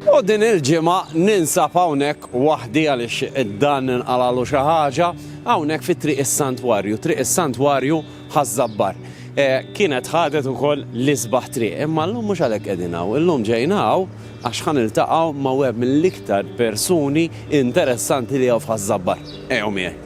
U din il-ġimgħa ninsab hawnhekk waħdi għaliex dan inqalalu xi ħaġa hawnhekk fi Triq is-Santwarju, Triq is-Santwarju Ħaż-Żabbar. E, kienet ħadet ukoll l-isbaħ triq, imma llum mhux għalhekk qegħdin hawn, illum ġejna hawn għax ħan iltaqgħu ma' wieħed mill-iktar persuni interessanti li hawn f'Ħaż-Żabbar. Ejjew miegħi.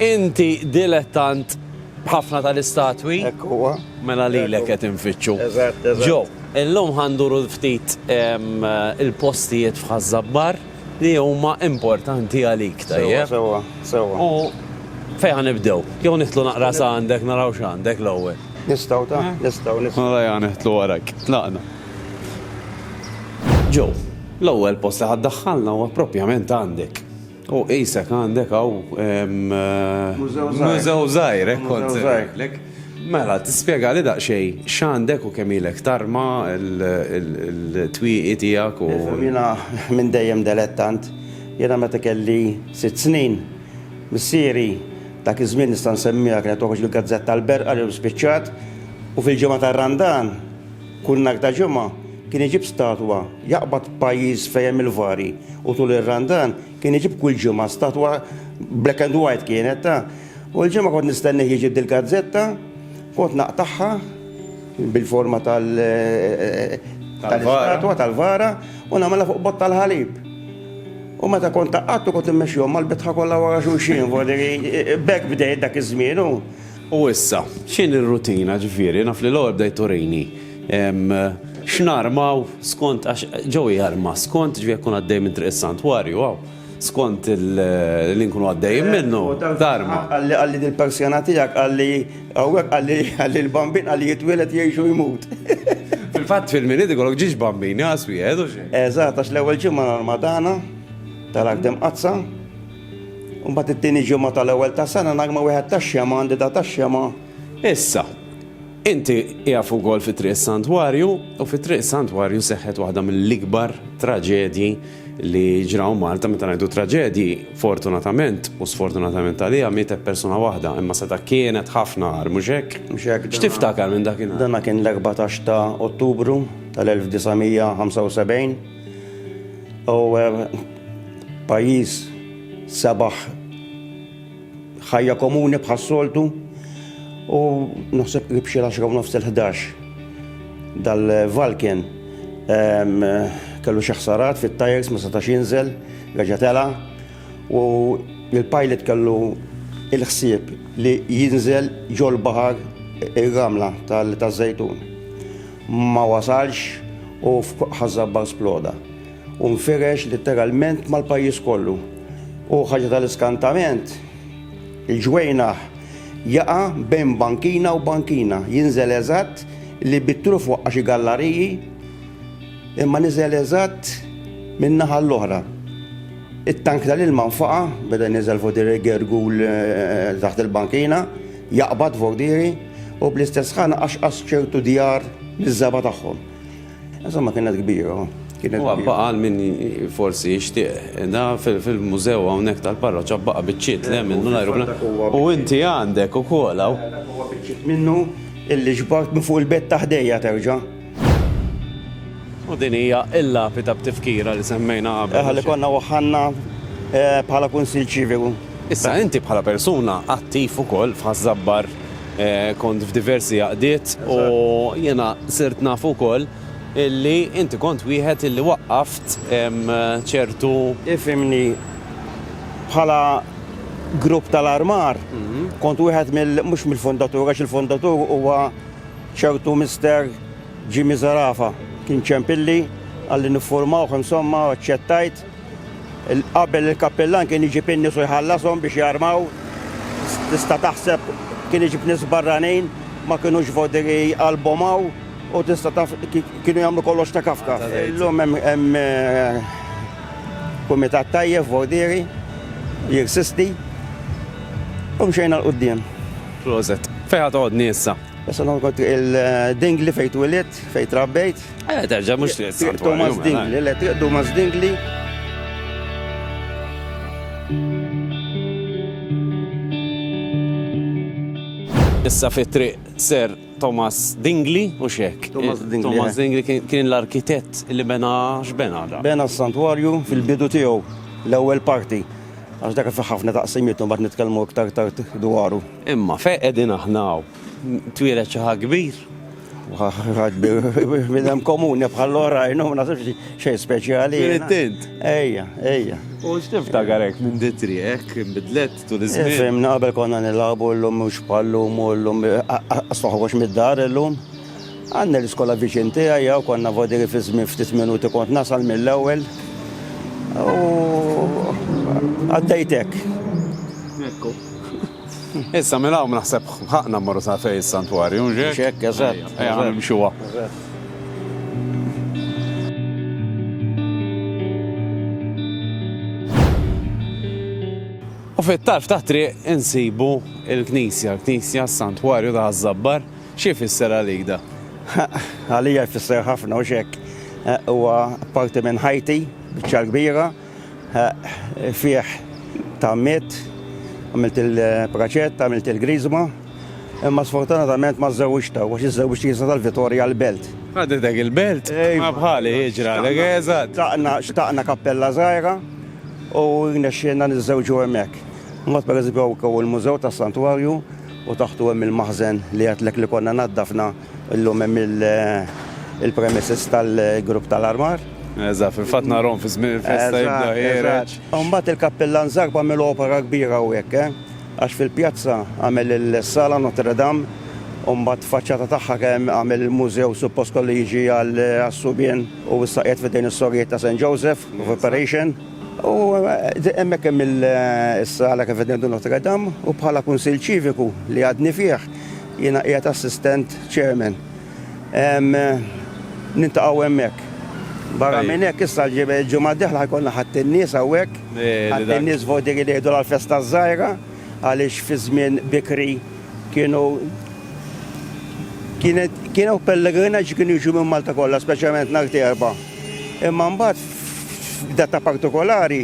Inti dilettant b'ħafna tal-istatwi. Hekk huwa. Mela lilek qed infittxu. Eżatt, eżatt. Joe, illum ħa nduru ftit il-postijiet f'Ħaż-Żabbar li huma importanti għalik, tajjeb? Sewwa, sewwa, sewwa. U fejn ħa nibdew? Jew nidħlu naqra sa għandek naraw x'għandek l-ewwel? Nistgħu, ta? Nistgħu, nistgħu. Mela ejja nidħlu warajk. Tlaqna. Joe, l-ewwel post li ħa ddaħħalna huwa proprjament għandek. U qisek għandek hawn mużew żgħir, hekk kont se ngħidlek. Mela, tispjegali daqsxejn x'għandek u kemm ilek tarma l-twieqi tiegħek u. Jiena minn dejjem delettant. Jiena meta kelli sitt snin, missieri, dak iż-żmien nista' nsemmiha kienet toħroġ il-gazzetta L-Berqa li llum spiċċat, u fil-ġimgħa tar-Randan Kull nhar ta' Ġimgħa kien iġib statwa, jaqbad pajjiż fejn hemm il-vari u tul ir-Randan kien iġib kull ġimgħa statwa black and white kienet ta'. U l-Ġimgħa kont nistennih jiġib dil-gazzetta, kont naqtagħha bil-forma tal tal-istatwa tal-vara u nagħmilha fuq botta l-ħalib. U meta kont taqgħadtu kont immexxihom mal-bitħa kollha wara xulxin, bekk bdejt dak iż-żmien u U issa, x'inhi r-rutina, ġifieri, naf li l-ewwel bdejt turini x'narmaw skont għax ġo jarma skont ġifieri jekk nkun għaddej minn Triq is-Santwarju hawn, skont li nkunu għaddejjin minnu, tarma. Qalli dil-persjana tiegħek qalli hawnhekk qalli l-bambin qalli jitwieled jgħix u jmut. Fil-fatt fil-Milied ikollok ġiex bambini, għas wieħed u xejn. Eżatt, għax l-ewwel ġimgħa normali tagħna tal-Għaqda Mqaddsa. U mbagħad it-tieni ġimgħa tal-ewwel tas-sena nagħma wieħed tax-xema għandi da tax-xema. Issa, inti qiegħef ukoll fi Triq is-Santwarju u fi Triq is-Santwarju seħħet waħda mill-ikbar traġedji li ġraw Malta meta ngħidu traġedji, fortunatament u sfortunatament għaliha mietet persuna waħda, imma seta' kienet ħafna għar, mhux hekk? Mhux hekk. X'tiftakar minn dakinhar? Dana kien l-14 ta' Ottubru tal-1975. U eh, pajjiż sabaħ ħajja komuni bħas-soltu u naħseb li bxi l-10 nofs il-11 dal-Valken kellu xaħsarat fit-tajers ma setax jinżel, reġa tela u il-pilot kellu il-ħsieb li jinżel ġol bahar il-ramla tal-żejtun. Ma wasalx u f'ħaż-żabbar sploda u nfirex litteralment mal-pajjiż kollu. U ħaġa tal-iskantament, il-ġwejnaħ jaqa' bejn bankina u bankina, jinżel eżatt li bit-truf waqqa' xi gallariji imma niżel eżatt min-naħa l-oħra. It-tank tal-ilma nfaqa' beda jniżżel fuq Dirigirgu taħt il-bankina. Jaqbad Vordiri u bl-istess ħana qaxqas ċertu djar miż-żgħaba tagħhom. Insomma kienet kbira. Huwa baqa' għal min forsi jixtieq. Da fil-mużew hawnhekk tal-parroċċa baqa' biċċiet le minnu l-ajruplan. U inti għandek ukoll hawn. Huwa biċċiet minnu illi ġbart minn fuq il-bed ta' ħdejja terġa'. U din hija l-lapida b'tifkira li semmejna qabel. Eħa li konna waħħanna eh, bħala kunsil ċiviku. Issa inti bħala persuna attiv ukoll f'ħażabbar eh, kont f'diversi għaqdiet u jiena sirt naf ukoll illi inti kont wieħed illi waqqaft ċertu. Ifimni bħala grupp tal-armar, mhm. kont wieħed mill mhux mill-fondatur għax il-fondatur huwa Ċertu Mister Jimmy Zerafa kien ċempilli, qalli niffurmawh insomma u aċċettajt. Qabel il-kappillan kien iġib in-nies u jħallashom biex jarmaw. Tista' taħseb kien iġib nies barranin, ma kinux vodiri qalbhom hawn u tista' taf kienu jagħmlu kollox ta' kafka. Illum hemm kumitat tajjeb vodiri, jirsisti u mxejna 'l quddiem. Proset. Fejn ħa toqgħodni issa? Issa noqgħod il-Dingli fejn twilit, fejn trabbejt. Eh, terġa' mhux triq San Thomas Dingli, le triq Thomas Dingli. Issa fit triq Sir Thomas Dingli u xek. Thomas eh, Dingli. Thomas eh. Dingli kien l-arkitett li bena x'bena da. Bena s-santwarju fil-bidu tiegħu l-ewwel parti. Għax dak fi ħafna taqsimiet mbagħad nitkellmu iktar tard dwaru. Imma fejn qegħdin aħna hawn? Twieled xi ħadd kbir? Bidem komuni bħal oħrajn, u nasibx xej speċjali. Tint. Ejja, ejja. U x'tiftakar hekk minn ditri hekk bidlet tul iż-żmien. Fimna qabel konna nilagħbu llum mhux bħal-lum u llum asfaħux mid-dar illum. Anne l-iskola viċin tiegħi hawn konna vodiri fi żmien ftit minuti kont nasal mill-ewwel u għaddejt hekk. Ekku. Issa minn hawn naħseb b'ħaqqna mmorru sa fejn is-santwarju, mhux hekk? Mhux hekk, eżatt. Ejja nimxuha. Eżatt. U fit-tarf tat-triq insibu l-knisja, l-knisja s-santwarju ta' Ħaż-Żabbar. Xi jfisser għalik da? Għalija jfisser ħafna u xek. Eh, huwa parti minn ħajti, biċċa kbira, eh, fih tammiet, għamilt il-praċett, għamilt il-grizma, imma sfortunatament ma żewġ ta' għax iż-żewġ jisa tal-Vitorja l-belt. Għadidek il-belt? Ma bħali iġra, l-għeza. Xtaqna kappella zaħira u nexxina nizzewġu għemek. Mot per eżempju għaw il-mużew ta' santuarju u taħtu hemm il-maħżen li għedtlek li konna naddafna, illum hemm il-premises tal-grupp tal-armar. Eżatt, fil-fatt narahom fi żmien il-festa jibda jgħereġ. U mbagħad il-kappillan Zarb għamel opera kbira hawnhekk, eh! Għax fil-pjazza għamel is-sala Notre Dame u mbagħad faċċata tagħha kemm għamel il-mużew suppost kollu jiġi għas-subien u issa qiegħed f'idejn is-Sorijiet ta' San Joseph f'operation. U hemmhekk hemm is-sala kif qed ngħidu Notre Dame u bħala Kunsill Ċiviku li għadni fih jiena qiegħed Assistant Chairman. Niltaqgħu hemmhekk. Barra minn hekk issa l-ġimgħa d-dieħla ħa jkollna Ħadd in-Nies hawnhekk. Ħadd in-Nies vogdiri li jgħidulha l-festa ż-żgħira għaliex fi żmien bikri kienu kienet kienu pellegrinaġġi kienu jiġu minn Malta kollha speċjalment nhar t-Erbgħa. Imma mbagħad f'data partikolari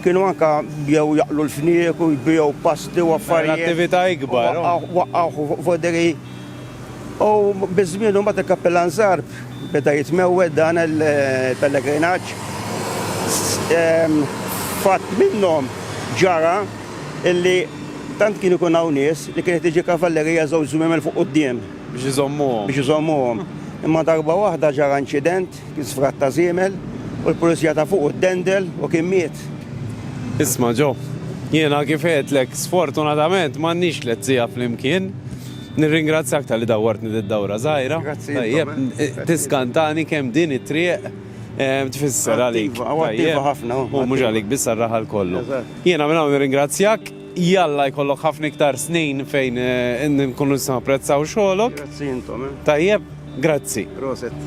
kienu anka jew jaqlu l-fniek u jbiegħu pasti u affarijiet. Attività ikbar. Waqqgħu voderi. U biż-żmien u mbagħad il-Kappillan Zarb beda jitmewwed dan il-pellegrinaġġ. Fatt minnhom ġara illi tant kien ikun hawn nies li kienet tiġi kavallerija żewġ żwiemel fuq quddiem. biex iżommuhom. biex iżommuhom. Imma darba waħda ġara inċident, kien sfrat ta' żiemel, u l-pulizija ta' fuqu ddendel u kien miet. Isma' Ġo, jiena kif għedtlek, sfortunatament m'għandniex tliet siegħa flimkien. Nirringrazzjak talli dawwartni did-dawra żgħira. Grazzi lilkom. Tajjeb, tiskantani kemm din it-triq tfisser għalik. Attiva, u attiva ħafna. U mhux għalik biss għar-raħal kollu. Eżatt. Jiena minn hawn nirringrazzjak. Jalla jkollok ħafna iktar snin fejn nkunu nistgħu napprezzaw xogħolok. Grazzi intom. Eh. Tajjeb, grazzi. Proset.